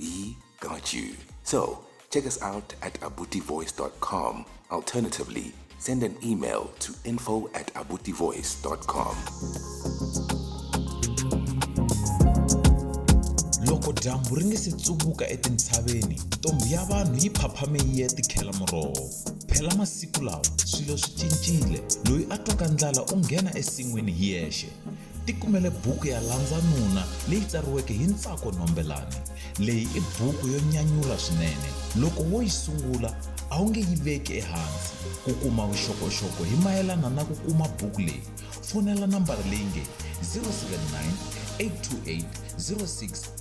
We got you. So, check us out at abutivoice.com. Alternatively, send an email to info at abutivoice.com. loko dyambu ri nge se tsuvuka etintshaveni ntombhi ya vanhu yi phaphame yi ya tikhela muroho phela masiku lawa swilo swi cincile loyi a twaka ndlala u nghena esin'wini hi yexe Tikumele buku ya Landza Nuna leyi tsariweke hi Ntsako Nombelani. Leyi i buku yo nyanyula swinene. Loko wo yi sungula, a wu nge yi veki ehansi. Ku kuma vuxokoxoko hi mayelana na ku kuma buku leyi, fonela nambara leyi nge 079 828 06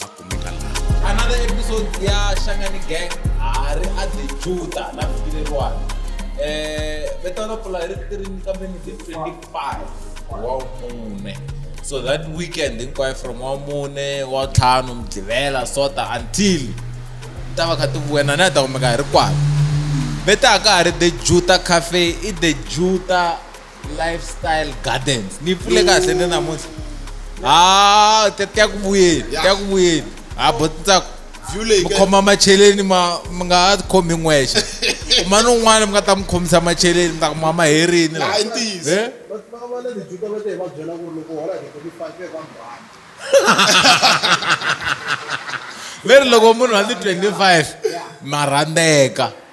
va kumeka laha another episode ya xangani gang a ri a the juda la fikileriwani um vito ra pfula hi ri tirini kambe ni the 25 wa mune so that weekend hinkwayo from wa mune wa ntlhanu mudlivela sota until ta va kha ti vuya nani a ta kumeka hi ri kwalo vita a ka ha ri the juta cafe i the juta lifestyle gardens ni yi pfule kahle ni namuntlha ha ti ya ku vuyeni ti ya ku vuyeni ha bo ntsako view leyi mi ka- khoma macheleni ma mi nga ha khomi n'wexe kuma ni un'wana mi nga ta mi khomisa macheleni mi ta ku mama herini la. Hayi, ntiyiso. Eh? ve ri loko munhu a ni 25 ma rhandzeka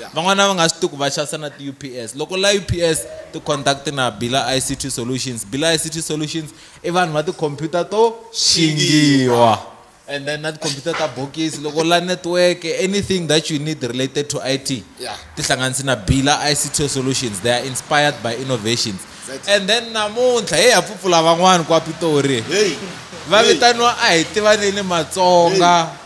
yeah. van'wana va nga swi tiku va xavisa na ti-ups loko la ups ti-contact na bila ict solutions bila ict solutions i vanhu va tikhompyuta to xingiwa and then na tikhompyuta ta bokisi loko la network anything that you need related to it yeah. tihlanganisi na bila ict solutions they are inspired by innovations exactly. and then namuntlha heyi ha pfupfula van'wani kwa pitori hey. va vitaniwa a hi tivaneni matsonga hey.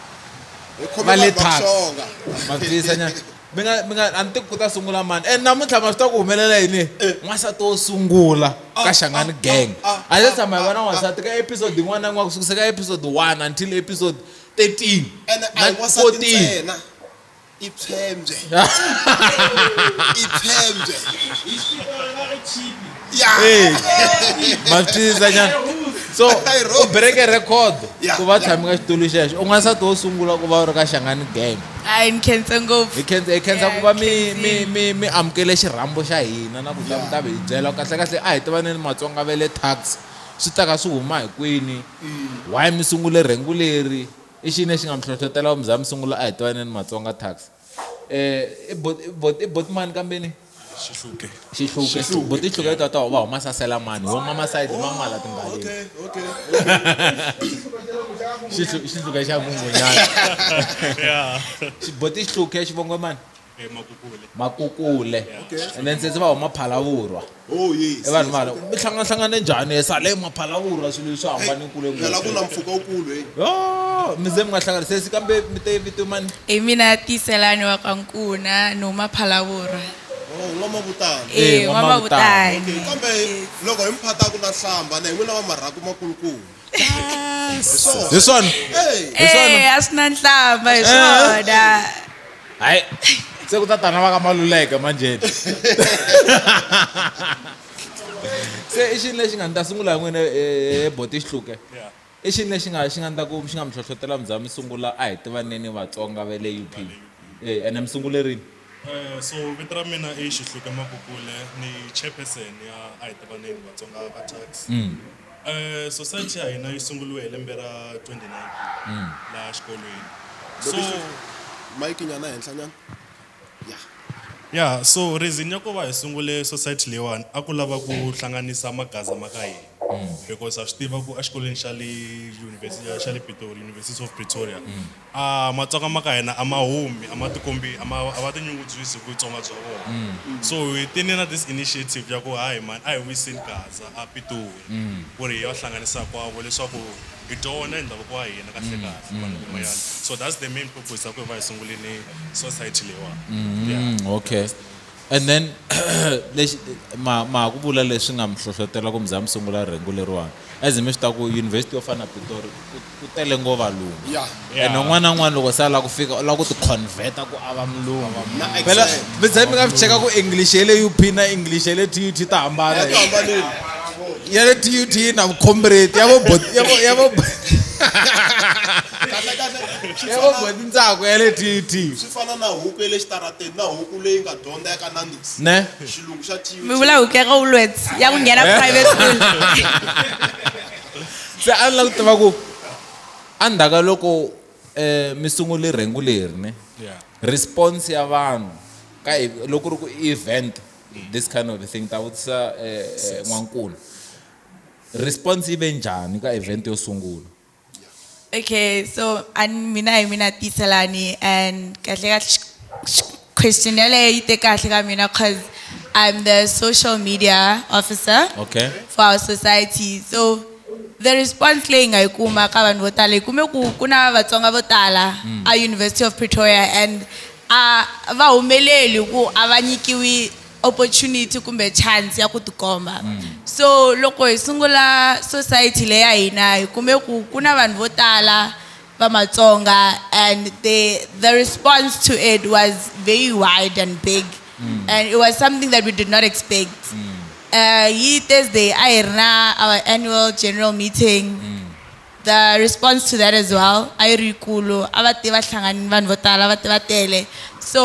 Hi khome va le vanhu va tax kuhlonga. maphisa nyana mi nga mi nga a ni tiku ku ta sungula mani and namuntlha ma swi ta ku humelela yini n'wansati wo sungula ka xangani gang a ze tshama hi vona n'wansati ka episode yin'wana na yin'wana ku sukisa ka episode 1 until episode 13 ene a na hi wansati 14 ntsena i phyembye i phyembye Yeah. Eh, matiza nyana so I wrote. u bereke record Yeah. ku va tshami ka xitulu xexo u n'wansati wo sungula ku va u ri ka xangani gang hayi ni khense ngopfu hi khensa hi khensa ku va mi Yeah, mi khensile. mi mi amukele xirhambo xa hina na ku ta mi ta hi byela kahle kahle a hi tivaneni matsonga va le tax swi ta ka swi huma hi kwini why mi sungule rhengu leri i xini lexi nga mi hlohlotela ku mi za mi sungula a hi tivaneni matsonga tax Eh, i bot- i bot- i boti mani kambeni xihluke xihluke Xihluke. boti hluke ta ta va huma sasela mani wo mama side ma mala timbaleni Xihlu- xihluke xa mungunyana ya Xi- boti xihluke xivongo mani emakukule makukule and then sesi va huma phalavurwa Oh yes. I vanhu mara mi hlangana hlangana njhani e sale maphalavurha swilo leswi hambane kule ngopfu. Phela ku na mpfhuka wukulu hey. Yo mi ze mi nga hlangana sesi kambe mi te vito mani? Hi mina Tiyiselani wa ka Nkuna ni huma Phalavurha. Oh N'wamavutani. E N'wamavutani. Okay kambe loko hi mi phata ku na hlamba na hi n'wina va marhaku makulukumba. hi swona hi swona Eh, a swi na nhlamba hi swona hayi se ku ta tana va ka maluleke manjeni se i xini lexi nga ni ta sungula hi n'wina eh, boti xihluke i xini lexi nga xi nga ni ta ku xi nga mi hlohlotela mi za mi sungula a hi tivaneni vatsonga va le up Eh, ene mi sungulerini Eh, so vito ra mina i xihluke makukule ni chairperson ya a hi tivaneni vatsonga va tax mm. eh, society ya hina yi sunguriwe hi lembe ra 2019 mm. laha xikolweni so mike nyana henhla nyana ya ya so reason ya ku va hi sungule society leyiwani a ku lava ku hlanganisa magaza ma ka hina mm. because a swi tiva ku exikolweni xa le xa le pitori university of pretoria mm. A Matsonga ma ka hina a ma humi, a ma tikombi, a ma a va tinyungubyisi hi Vutsonga bya vona. So hi tile na this initiative ya ku hayi mhani a hi wiseni Gaza a Pitori ku ri hi ya hlanganisa hinkwavo leswaku hi dyondza hi ndhavuko wa hina kahle kahle vanhu van'wanyana. So that's the main purpose ya ku hi va hi sungule ni society leyiwani. Yeah. Okay. And then lexi ma ma ha ku vula leswi nga mi hlohlotela ku mi za mi sungula rhengu leriwani as mi swi ta ku university yo fana na pitori ku ku tele ngo valungu Yeah. and Yeah. un'wana na un'wana loko se a lava ku fika u lava ku ticonveta ku a va mulungu Na- phela exactly. mi za mi nga swi cheka ku english ya le up na english ya le tut ta hambana Ya hi- hambanile. ya le tut yi na vukhombreti ya vo bot- ya vo- ya vo Kahle kahle swi ya vo fana- botintsako ya le tut swi fana na huku ya le xitarateni Ne? Mi vula huku ya ka Woolworths ya ku nghena Eh? private school. se a ni lava ku tiva ku endzhaku ka loko um mi sungule rhengu leri ne response ya vanhu ka hi- loko ku ri ku i event this kind of thing ta vutisa um n'wankulu response yi ve njhani ka event yo sungula Okay, so and mina hi mina Tiselani and kahle kahle question yaleyo yi te kahle ka mina cause I'm the social media officer Okay. for our society. So the response leyi nga yi kuma ka vanhu vo tala hi kume ku ku na Vatsonga vo tala a University of Pretoria and a va humeleli ku a va nyikiwi opportunity kumbe chance ya ku tikomba mm. so loko hi sungula society leyi ya hina hi kume ku ku na vanhu vo tala va matsonga and the, the response to it was very wide and big mm. and it was something that we did not expect mm. uh, yi thursday a hi ri na our annual general meeting mm. the response to that as well a yi ri yikulu a va te va hlanganini vanhu vo tala va te va tele so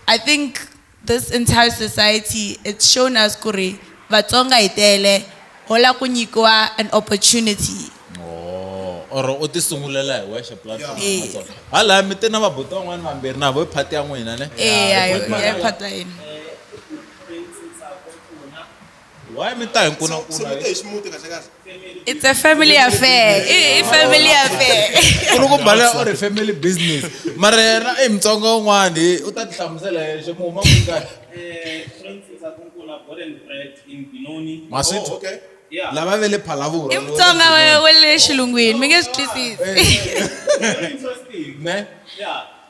i think This entire society it's shown us ku ri Vatsonga hi tele ho la ku nyikiwa an opportunity. Ohh or u ti sungulela hi wexe platform ya Eya. Matsonga. Ha laya mi te na va buti van'wana vambirhi na vo i part ya n'wina ne. Eya hi part ya hina. Why mi ta hi nkuna So, so mi te hi ximuti kahle kahle. It's a family affair. I, i family affair. u ri ku mbala u ri family business mara yena i mutsonga un'wani u ta ti hlamusela yexe mu huma ku ka ma swi Oh, okay. lava ve le phalavura I mutsonga wa wa le xilungwini mi nge swi twisisi. ne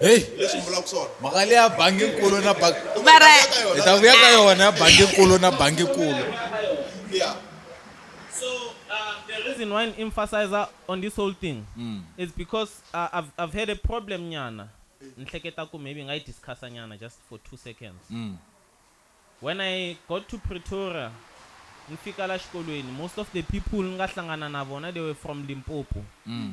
heyi mhaka leyi ya banginkulu na bangi mara hi ta vuya ka yona ya banginkulu na banginkulu reason why I emphasize on this whole thing mm. is because uh, I've, I've had a problem nyana. Nhleketa ku maybe ngai discuss nyana just for two seconds. Mm. When I got to Pretoria, nifika la xikolweni, most of the people nga hlangana na vona they were from Limpopo. Mm.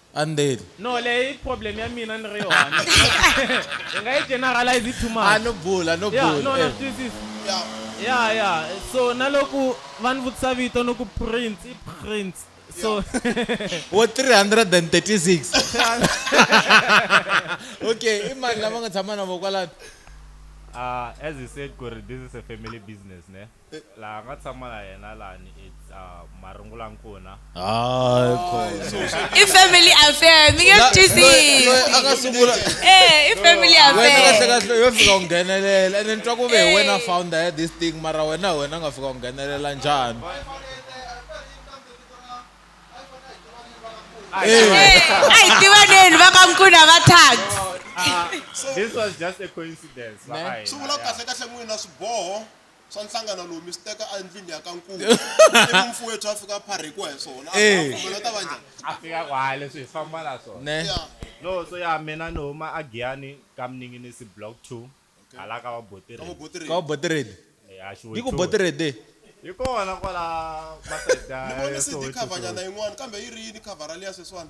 and then No, leyi i problem ya mina ni ri one. Hi nga yi generalize hi too much. a no bula no Yeah, bula no, na eh. swi twisisa. Yeah, yeah. So na loko va ni vutisa vito ni ku Prince, i Prince. So wo 336 okay i mani lava nga tshama na vo kwalano Ah, as you said, Kuri, this is a family business, ne? laha nga tshama na yena lani a marungula nkuna hayi khona i family affair mi nge swi twisisi a nga sungula eh i family wena affair kahlekahle yo fika u nghenelela ene ni twa ku ve hi wena founder ya this thing mara wena hi wena u nga fika u nghenelela njhani a hi tivaneni va ka nkuna va tag Ah, this was just a coincidence va ka hina. swi vula kahle kahle n'wina swiboho swa nhlangano lowu mi swi teka endlwini ya ka nkulu ivi mfuwethu a fika pharhikiwa hi swona Eh. kumbe ta va njhani a fika kwaya leswi hi famba na swona ne ya no so ya mina ni huma a giyani ka mninginisi block 2 hala ka ka vabotireni vabotiri ka botiredi Eh, a xiwe yi ku two. botiredi yi kona kwala ni vone cd cover nyana masayida yin'wana kambe yi ri yini cover liya sweswiwani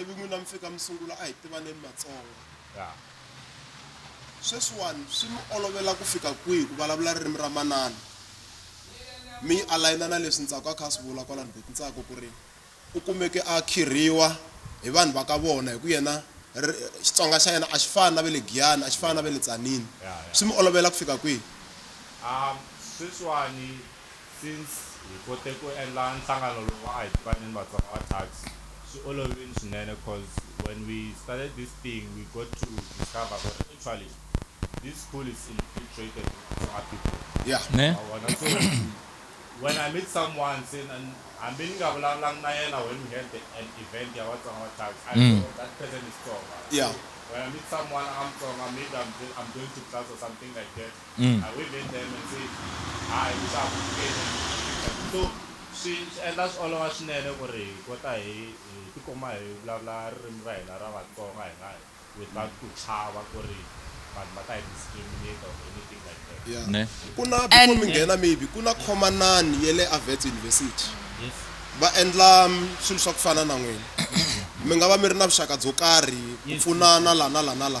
ivi n'wina mi fika mi sungula a hi tivaneni matsonga ya sweswiwani swi mi olovela ku fika kwihi ku vulavula ririmi ra manana mi yi alayina na leswi ntsako a kha a swi vula kwalani beti ntsako ku ri u kumeke a khirhiwa hi vanhu va ka vona hi ku yena ri- xitsonga xa yena a xi fani na ve le giyani a xi fani na ve le tsanini ya ya swi mi olovela ku fika kwihi um sweswiwani Since hi kote ku endla nhlangano lowu wa Ahi Tivaneni Vatsonga wa Tax, swi olovile swinene coz when we started this thing we got to discover ku ri actually this school is infiltrated with Tsonga people. Yeah. Ne? Wa vona? So when I meet someone se na- hambi ni nga vulavulangi na yena when we had the, an event ya Vatsonga wa Tax, I know oh, that person is Tsonga. Yeah. So when I meet someone a nga Mutsonga, maybe I'm, I'm going to class or something like that, Mm. I wave at them and say, Hi, what's up? Pfukeni. So, swi swi endla swi olova swinene ku ri hi kota hi hi tikuma hi vulavula ririmi ra hina ra Vatsonga hi nga without ku chava ku ri vanhu va ta hi discriminate or anything like that. Yeah. Ne. Ku na before And- mi nghena maybe ku na khomanani ya le Avets University. Yes. Va endla mm, swilo swa ku fana na n'wina. Mi nga va mi ri na vuxaka byo karhi ku Yes. pfunana la na la na la.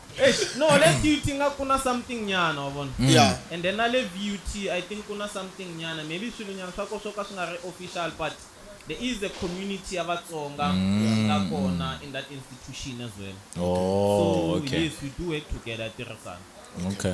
Eish, no le tut inga ku na something nyana wa vona Yeah. and then na le vut i think ku na something nyana maybe swilo nyana swa ko swo ka swi nga ri official but there is a community ya vatsonga yi nga kona in that institution as well so Oh, okay. yes we do work together ya tirhisana Okay.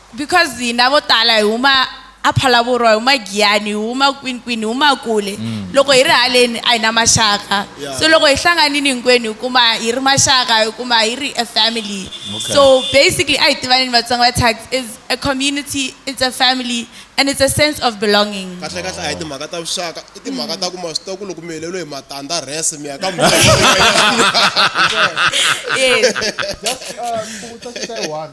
Because hina vo tala hi huma a Phalavurwa, hi huma Giyani, hi huma kwini kwini, hi huma kule. Loko hi ri haleni a hi na maxaka. Yeah. So loko hi hlanganini hinkwenu hi kuma hi ri maxaka, hi kuma hi ri a family. Okay. So basically a hi tivaneni Vatsonga va Thax is a community, it's a family and it's a sense of belonging. kahle kahle a hi timhaka ta vuxaka i timhaka ta ku ma swi tiva ku loko mi heleriwe hi matandza rese mi ya ka Yes. Just uh, Kubuta Square One.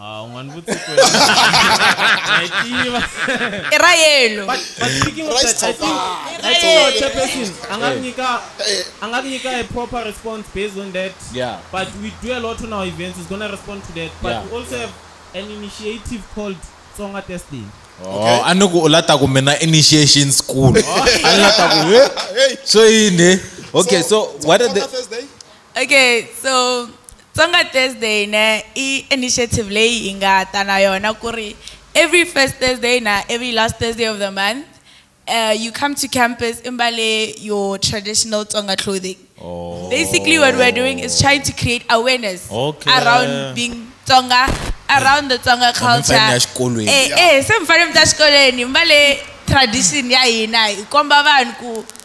Ah, u nga ni vutisi ku yini? Na yi tiva. i ra yellow But but speaking of Rice that, I think topper. I think our chairperson a nga ku nyika a nga ku nyika a proper response based on that. Yeah. But we do a lot on our events. He's gonna respond to that. But Yeah. we also have an initiative called Tsonga Test Day. Oh, a ni ku u lata ku mina initiation school a ni lata ku he so yini okay so what are the Thursday? Okay so Tsonga Thursday ne i initiative leyi hi nga ta na yona ku ri every first Thursday na every last Thursday of the month uh, you come to campus i mbale your traditional Tsonga clothing. Oh. Basically what we're doing is trying to create awareness Okay. around being Tsonga, around the Tsonga culture. mfanele ya xikolweni. Eh, eh, se mfanele mi ta xikolweni mbale tradition ya hina hi komba vanhu ku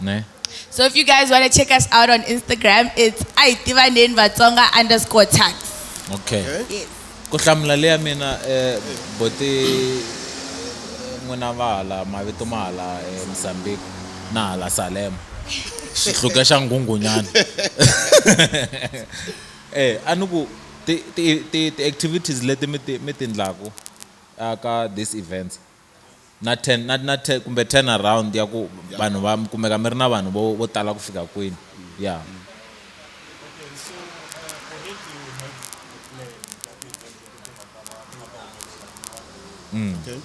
Ne? So if you guys want to check us out on Instagram, it's aitivanen vatsonga underscore tax. Okay. okay. Yes. Ku hlamula leya mina eh bote n'wina va hala mavito ma hala eh, Mozambique na hala Salem. Xihluke xa ngungunyana. Eh anuku ti ti ti activities leti mi ti mi tindlaku aka this events na ten na na ten kumbe ten around ya ku vanhu va mi kumeka mi ri na vanhu vo vo tala ku fika kwini ya mm. okay.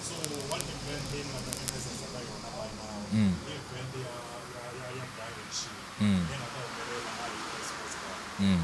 mm. mm. mm.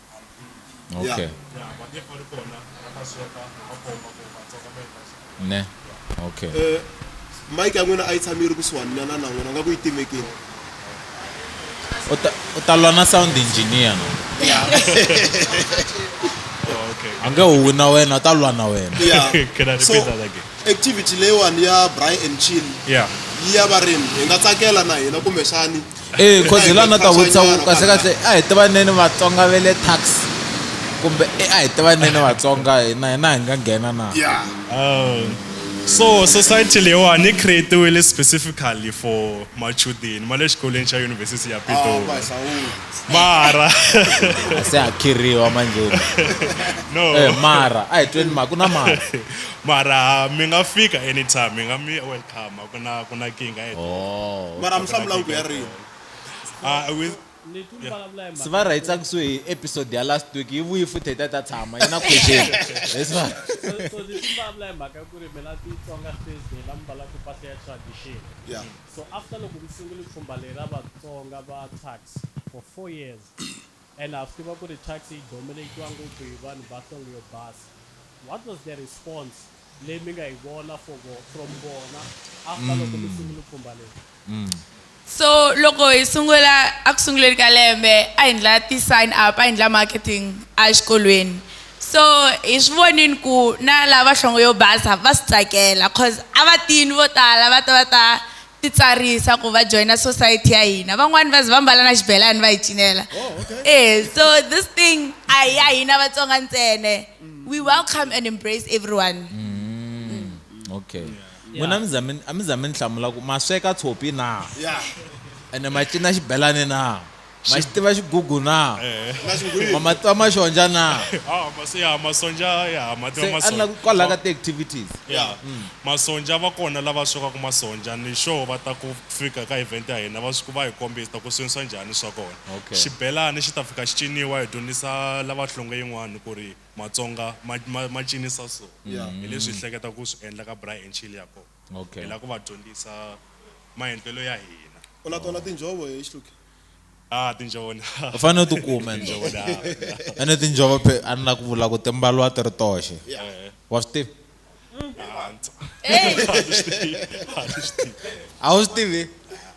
okay ne okay Eh, mike ya n'wina a yi tshami yi ri kusuhani na na na n'wina nga ku yi timekini u ta- u ta lwa na sound engineer no a nge huwi na wena u ta lwa na wena Yeah. Can I repeat So, that again? activity leyiwani ya brian and chill Yeah. yi ya varimi hi nga tsakela na hina kumbexani ee eh, khozi la na ta vutisa kahle kahle a hi tivaneni vatsonga ve le tax kumbe eh, a hi tivaneni vatsonga hina hina hi nga nghena na oh. so society leyiwani yi creatiwile specifically for machudeni ma le xikolweni xa yunivhesiti ya pitori mara se a khirhiwa manjeni no eh, mara a hi tweni ma ku na mara mara mi nga fika anytime mi nga mi welcome ku na ku na kinga eto Oh. mara mi hlamula ku ya rini ah we se va ri hi tsakisiwe hi episode ya last week yi vuyi futhi hi ta ta tshama yi na question Yes, va- so ni swi vulavula hi mhaka ya ku ri mina titsonga thursday la mi mbalaka mpahla ya tradition ya so after loko mi sungule pfhumba leri ra vatsonga va tax for four years and ha swi tiva kuri Thyakisi yi domelekiwa ngopfu hi vanhu va nhlonge yo basa, what was the response leyi mi nga yi vona for vo from vona after loko mi sungule pfhumba leri? So loko hi sungula a ku sunguleni ka lembe a hi ndla ti sign up a hi ndla marketing a xikolweni so hi swi vonini ku na lava nhlonge yo basa va swi tsakela cause a va tini vo tala va ta va ta titsarisa ku va joina society ya hina van'wani va ze va mbala na xibelani va hi cinela oh, eh so this thing a hi ya hina vatsonga ntsene we welcome and embrace everyone mm, okay n'wina a mi za mi ni hlamula ku ma sweka tshopi na ene ma cina xibelani na ma xi tiva xigugu na ma ma tiva maxonja na ah, ya masonja ya ma tiva masonja kwalaho ka ti-activities ya mm. masonja va kona lava swekaka masonja ni sure va ta ku fika ka event ya hina va swi va hi kombisa ta ku swinisa njhani swa kona xibelani xi ta fika xi ciniwa hi dyondzisa lava hlonge yin'wani ku ri matsonga ma cinisa so hi leswi hi hleketa ku swi endla ka bra and chill ya kona Okay. hi lava ku va dyondzisa maendlelo ya hina u na tona tinjhovo hi xihluke ah tinjhovo na u fanele u tikuma ende tinjhovo na ene tinjhovo phe a ni la ku vula ku timbaliwa ti ri toxe Eh, wa swi tivi ah, ndza- Hey, a wu swi tivi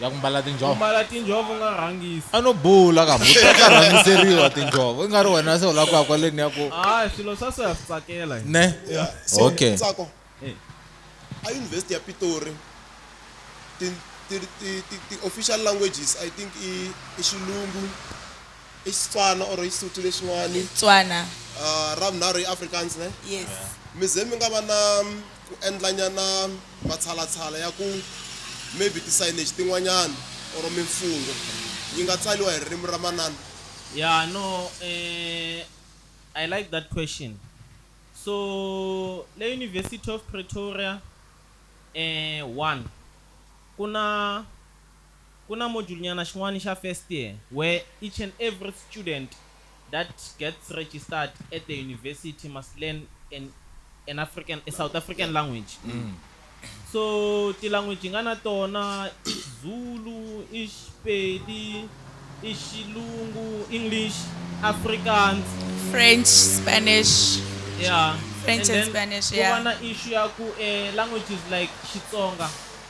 ya ku mbala tinjhovo mbala tinjhovo u nga rhangisi a no bula ka mhani u ta rhangiseriwa tinjhovo i nga ri wena se u lava ku ya kwaleni ya ku a swilo swa so ya swi tsakela ne okay tsako a yunivhesiti ya pitori ti-official languages i think i i xilungu i xitswana or i xisuthu lexin'wani tswana uh, ra vunharhu i afrikaans ne yes mi ze mi nga va na ku endlanyana matshalatshala ya ku maybe ti signage tin'wanyana or mimfungho yi nga tsaliwa hi ririmi ra manana. Yeah no eh I like that question so le University of Pretoria eh one ku na. Ku na module nyana xin'wana xa first year where each and every student that gets registered at the university must learn an an African a South African language so ti language hi nga na tona i Xizulu, i Xipedi, i Xilungu, English, Afrikaans, French, Spanish, yeah French and and then Spanish ku yeah. va na issue ya ku languages like Xitsonga.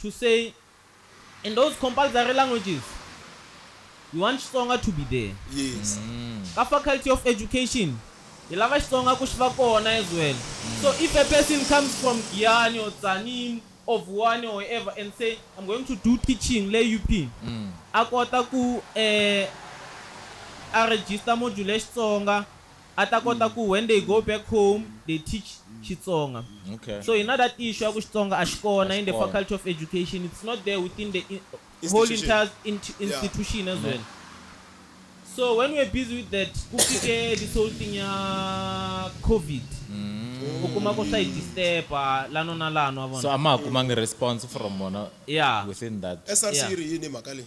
to say in those compulsory languages we want Xitsonga to be there. Yes. Ka faculty of education hi lava Xitsonga ku xi va kona as well. So if a person comes from Giyani or Tzaneen or Vuwani or wherever and say I'm going to do teaching le UP a kota ku a register module ya Xitsonga a ta kota ku when they go back home they teach Xitsonga. Okay. So hi na that issue ya ku Xitsonga a xi kona in the Xikona. faculty of education, it's not there within the in, whole Institution. entire int- Yeah. institution as well. So when we're busy with that, ku fike this whole thing ya COVID. U kuma ku swa hi disturba lano na lano wa vona. So a ma ha kumangi response from vona Yeah. within that. SRC Yeah. yi ri yini hi mhaka leyi?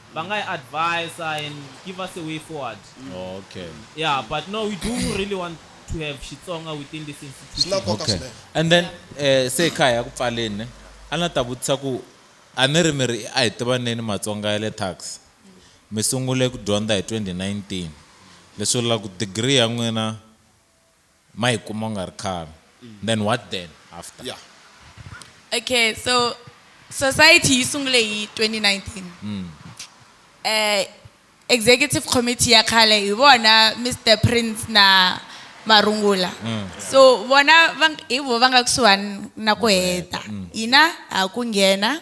va nga hi advise and give us a way forward okay yeah but no we do really want to have Xitsonga within this institution okay and then eh se kaya ya ku pfaleni ne a na ta vutisa ku a ni ri mi ri a hi tivaneni Matsonga ya le tax mi sungule ku dyondza hi 2019 leswi vula ku degree ya n'wina ma yi kuma u nga ri khale then what then after. Yeah. Okay so society yi sungule hi 2019 executive committee ya khale hi vona Mister Prince na Marungula so vona hi voho va nga kusuhani na ku heta hina ha ku nghena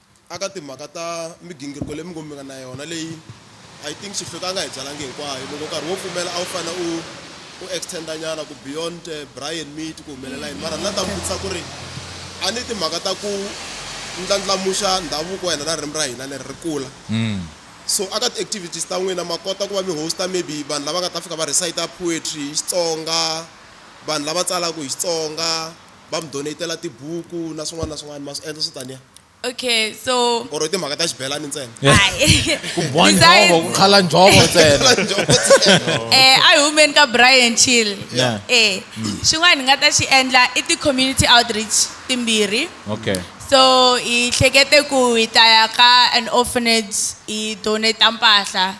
aka timhaka ta migingiriko leyi mi ngo mi nga na yona leyi I think Xihluke a nga hi byalangi hinkwayo loko nkarhi wo pfumela a wu fanele u u extenda nyana ku beyond eh, Brian Meat ku humelela yini mara na ta mi vutisa ku ri a ni timhaka ta ku ndlandlamuxa ndhavuko wa hina na ririmi ra hina leri ri kula mm. so aka ti-activities ta n'wina ma kota ku va mi hosta maybe vanhu lava nga ta fika va recita poetry hi xitsonga vanhu lava tsalaka hi xitsonga va mi donate-la tibuku na swin'wana na swin'wana ma swi endla swo taniya Okay, so or i timhaka ta xibelani ntsena ku boha njhovo ku khala njhovo ntsena eh a hi humeni ka Brian Chill yeah. eh xin'wana hi nga ta xi endla i ti-community outreach timbirhi okay so hi hlekete ku hi ta ya ka an orphanage hi donate mpahla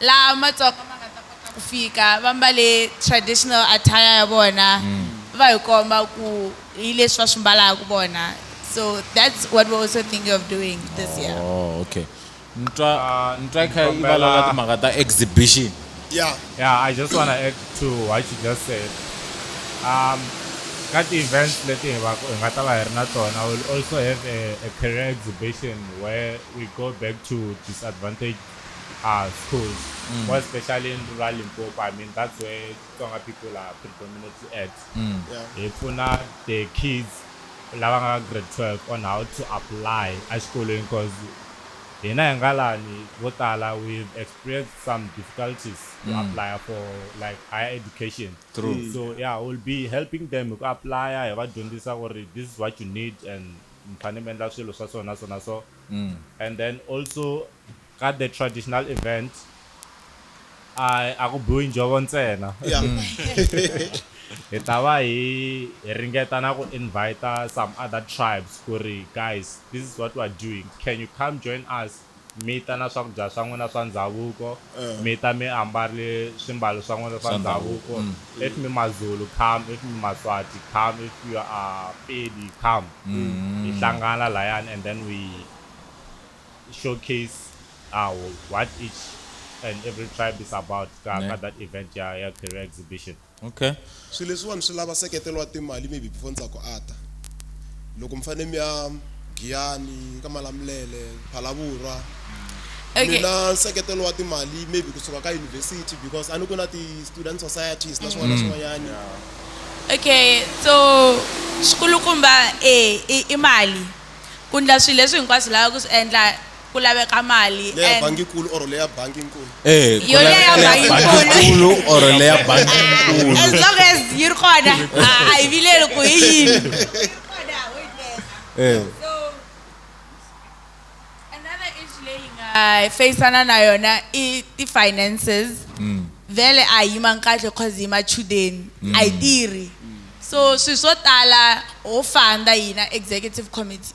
laha matsonga ma nga ta kota ku fika va mbale traditional attire ya vona va hi komba ku hi leswi va swi mbalaka vona so that's what we're also thinking of doing this year Oh, okay. Ni twa ni twa i kha i valala timhaka ta exhibition. Yeah. Yeah, I just wanna add to what you just said. Um, ka ti-events leti hi va hi nga ta va hi ri na tona we'll also have a, a career exhibition where we go back to disadvantaged Ah Skhos more especially in rural Limpopo I mean that's where Tsonga people are predominantly at hi pfuna the kids lava nga ka grade 12 on how to apply exikolweni coz hina hi nga lani vo tala we've experienced some difficulties to apply for like higher education so ya we'll be helping them hi ku apply hi va dyondzisa ku ri this is what you need and mi fane mi endla swilo swa so na so na so. And then also ka the traditional events a a ku biwi njhovo ntsena hi ta va hi hi ringeta na ku invite some other tribes ku ri guys this is what we are doing can you come join us mi ta na swakudya swa n'wina swa ndhavuko mi ta mi ambarile swimbalo swa n'wina swa ndhavuko if mi mazulu come if mi maswati come if you are pedi come hi hlangana layani and then we showcase what each and every tribe is about ka ka that event ya ya career exhibition. Okay. Swilo leswiwani swi lava seketelo wa timali maybe before ni tsako a ta loko mi fanele mi ya Giyani ka Malamulele Phalavurwa Okay. mina nseketelo wa timali maybe kusuka ka university because a ni ku na ti-student societies na swin'wana na swin'wanyani okay so xikulukumba e i i mali ku ndla swilo leswi hinkwaswo u lavaka ku swi endla ku laveka mali Leya and bangi-nkulu or leya bangi-nkulu? Ehe, ku Yo leya laveka leya bangi-nkulu. bangi-nkulu or leya as bangi-nkulu. long as yi ri kona a a hi vileli ku hi yini Eh. another issue leyi nga faceana na yona i ti-finances vele a hi yimangi kahle cause hi machudeni a hi tirhi so swilo swo tala ho fanda hina executive committee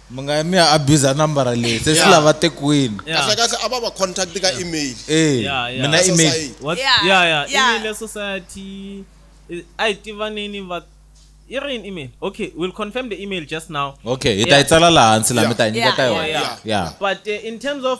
mi nga yi mi ya abuser nambara leyi se swi Yeah. lava tekwini kahle kahle a va va contact ka email Eh, Yeah, yeah. mina Ka email. society. What? Yeah, Yeah, yeah. yeah. Email ya society. Eh, A hi tivaneni va yi ri yini email? Okay, we'll confirm the email just now. okay hi ta yi tsala laha hansi laha mi ta yi nyika Yeah, ka yeah, yona yeah. ya But uh, in terms of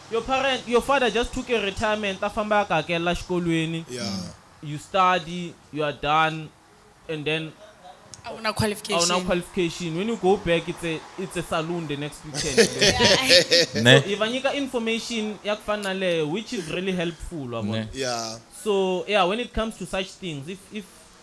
Your parent, your father just took a retirement a famba a ku hakelela xikolweni, you study, you are done and then A wu na qualification. a wu na qualification, when you go back it's a, it's a saloon the next weekend. Ne. So hi va nyika information ya ku fana na leyo which is really helpful wa vona. Ne. Yeah. So yeah when it comes to such things if, if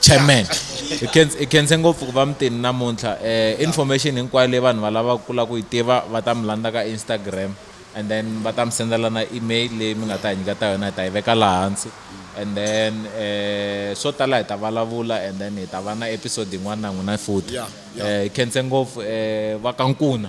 chairman hi khense- hi khense ngopfu ku va mi tini namuntlha um information hinkwayo leyi vanhu va lavaka ku lava ku yi tiva va ta mi landza ka instagram and then va ta mi sendela na email leyi mi nga ta hi nyika ta yona hi ta yi veka laha hansi and then um swo tala hi ta vulavula and then hi ta va na episode yin'wana na n'wina futhi Yeah, yeah. Eh, hi khense ngopfu um va ka nkuna